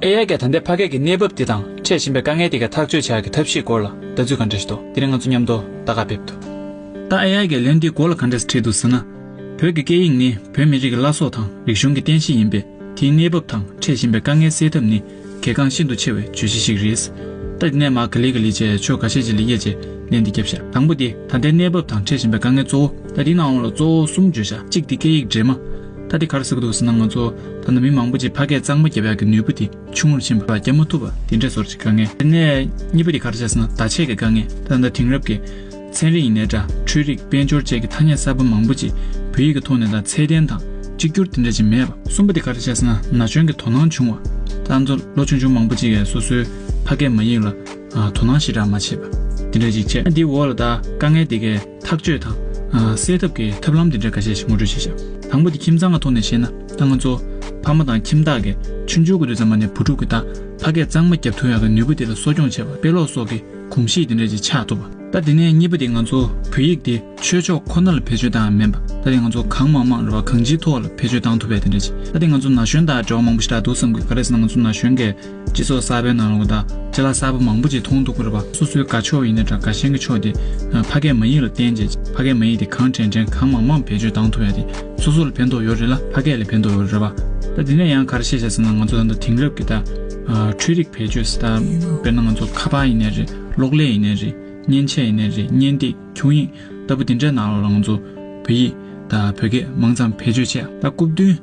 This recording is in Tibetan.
ཨེ་ཡ་ཀྱ་ད་ལྟའི་ཕ་སྐད་ཀྱི་གནས་བབ་དེ་དང་འཕྲད་བཞིན་པའི་དཀའ་ངལ་དེ་ག་ཐག་གཅོད་བྱ་དགའི་ཐབས་ཤེས་སྐོར་ལ་ལྟ་ཚུལ་ག་འདྲ་ཞིག་འདུག་དེ་རིང་ང་ཚོ་མཉམ་དུ་བརྡ་ཁ་ཕེབས་འདུག་ད་ཨེ་ཡ་ཀྱ་ལན་དེའི་སྐོར་ལ་ག་འདྲ་ཞིག་བྲིས་འདུག་ཟེར་ན། བོད་ཀྱི་སྐད་ཡིག་ནི་བོད་མི་རིགས་ཀྱི་བླ་སྲོག་དང་རིག་གཞུང་གི་རྟེན་གཞི་ཡིན་པས་དེའི་གནས་བབ་དང་འཕྲད་བཞིན་པའི་དཀའ་ངལ་སེལ་ཐབས་ནི་གལ་འགངས་ཤིན་ཏུ་ཆེ་བའི་བརྗོད་གཞི་ཞིག་རེད། ད་དེ་ནས་མར་ག་ལི་ག་ལི་བཅས་ཕྱོགས་ག་ཤེད་ཅིག་ལ་དབྱེ་རྗེས་ལན་འདི་བརྒྱབ་ཤག་དང་པོ་དེ་ད་ལྟའི་གནས་བབ་དང་འཕྲད་བཞིན་པའི་དཀའ་ངལ་གཙོ་བོ། ད་དེའི་ནང་འོག་ལ་གཙོ་བོ་གསུམ་བརྗོད་བྱ་གཅིག་དེ་སྐད་ཡིག་འདྲེས་མ། ད་དེ་གར་ཟེར་གི་འདུག་ཟེར་ན་ང་ཚོ་ད་ནང་མི་མང་པོ་ཅིག་ཕ་སྐད་གཙང་མ་བརྒྱབ་ཡག་གི་ནུས་པོ་དེ་ཆུང་ངུར་ཕྱིན་པ་རྒྱབ་མ་ཐུབ་པ་དེ་འདྲས་ཚོར་ཅིག་དཀའ་ངལ། དེ་ནས་གཉིས་པ་དེ་གར་བྱས་ཟེར་ན་བརྡ་ཆད་ཀྱི་དཀའ་ངལ་ད་ལྟ་དེང་རབས་ཀྱི་ཚན་རིག་ཡིན་ནའི་སྒྲ་འཕྲུལ་རིག་དཔལ་འབྱོར་བཅས་ཀྱི་ཐ་སྙད་གསར་པ་མང་པོ་ཅིག་བོད་ཡིག་གི་ཐོག་ནས་ད་ཚད་ལྡན་དང་གཅིག་གྱུར་དེ་འདྲ་ཅིག་མེད་པ། གསུམ་པ་དེ་གར་བྱས་ཟེར་ན་ན་གཞོན་གྱི་དོ་སྣང་ཆུང་བ། ད་ང་ཚོ་ལོ་ཆུང་ཆུང་མང་པོ་ཅིག་གིས་སོ་སོའི་ཕ་སྐད་མ་ཡིག་ལ་དོ་སྣང་ཞེ་དྲག་མ་བྱས་པ་དེ་འདྲས་ཅིག་བྱས། ད་འདིའི་འོག་ལ་ད་དཀའ་ངལ་དེ་གའི། ཐག་གཅོད་དང། སེལ་ཐབས་ཀྱི་ཐབས་ལམ་དེ་འདྲ་འགའ་ཤས་ཤིག་ངོ་སྤྲོད་བྱེད་བྱ། དང་པོ་དེ་ཁྱིམ་ཚང་གི་ཐོག་ནས་བཤད་ན་ད་ང་ཚོ། ཕ་མ་དང་ཁྱིམ་བདག་གིས་ཆུང་ཆུང་གི་དུས་ཚང་མ་ནས་བུ་ཕྲུག་གི་ད་ཕ་སྐད་གཙང་མ་རྒྱབ་ཐུག་ཡག་གི་ནུས་པ་དེ་ལ་གསོ་སྐྱོང་བྱེད་པ་དཔེ་ཀློག་སོགས་ཀྱི་གོམས་གཤིས་དེ་འདྲ་ཅིག་ཆགས་ཐུབ་པ། ད་དེ་ནས་གཉིས་པ་དེ་ང་ཚོ་བོད་ཡིག་དེ་ཆོས་ཕྱོགས་ཁོ་ན་ལ་བེད་སྤྱོད་བཏང་མིན་པ་ད་དེ་ང་ཚོ་གང་མང་མང་རེ་བ་གང་ཅིའི་ཐོག་ལ་བེད་སྤྱོད་བཏང་ཐུབ་པས་དེ་འདྲ་ཅིག་ད་དེ་ང་ཚོ་ན་གཞོན་དག་འབྲེལ་བ་མང་པོ་ཞིག་རག་འདུག་བསམ་གི་ག་རེ་ཟེར་ན་ང་ཚོ་ན་གཞོན་འགས་སྤྱི་ཚོགས་གསར་པའི་ནང་ལོག་ལྟ་ལྕི་ལ་གསར་པ་མང་པོ་ཅིག་མཐོང་འདུག་པར་པ་སོ་སོའི་དགའ་ཕྱོགས་ཡིན་ན་འདྲ་དགའ་ཞེན་གྱི་ཕྱོགས་དེ་ཕ་སྐད་མ་ཡིག་ལ་བརྟེན་རྗེས་ཕ་སྐད་མ་ཡིག་དེ་གང་དྲན་དྲན་གང་མང་མང་བེད་སྤྱོད་བཏང་ཐུབ་ཡ་དེ་སོ་སོ་ལ་ཕན་ཐོགས་ཡོད་རེད་ལ་ཕ་སྐད་ལས་ཕན་ཐོགས་ཡོད་རེད་པ། ད་དེ་ནས་ཡང་ག་རེ་བཤད་བྱས་ཟེར་ན་ང་ཚོ་ད་ལྟ་དེང་རབས་ཀྱི་ད་འཕྲུལ་རིགས་བེད་སྤྱོད་སྲིད་ད་དཔེར་ན་ང་ཚོ་ཁ་པར་ཡིན་ནས་རེད་གློག་ཀླད་ཡིན་ནས་རེད་མཉེན་ཆས་ཡིན་ནས་རེད་བརྙན་སྟེགས་ཁྱུང་ཡིག་ལྟ་བུ་དེ་འདྲའི་ནང་ལོག་ལ་ང་ཚོ་བོད་ཡིག་ད་བོད་སྐད་མང་ཙམ་བེད་སྤྱོད་བྱས་ད་སྐུབ་བསྟུན།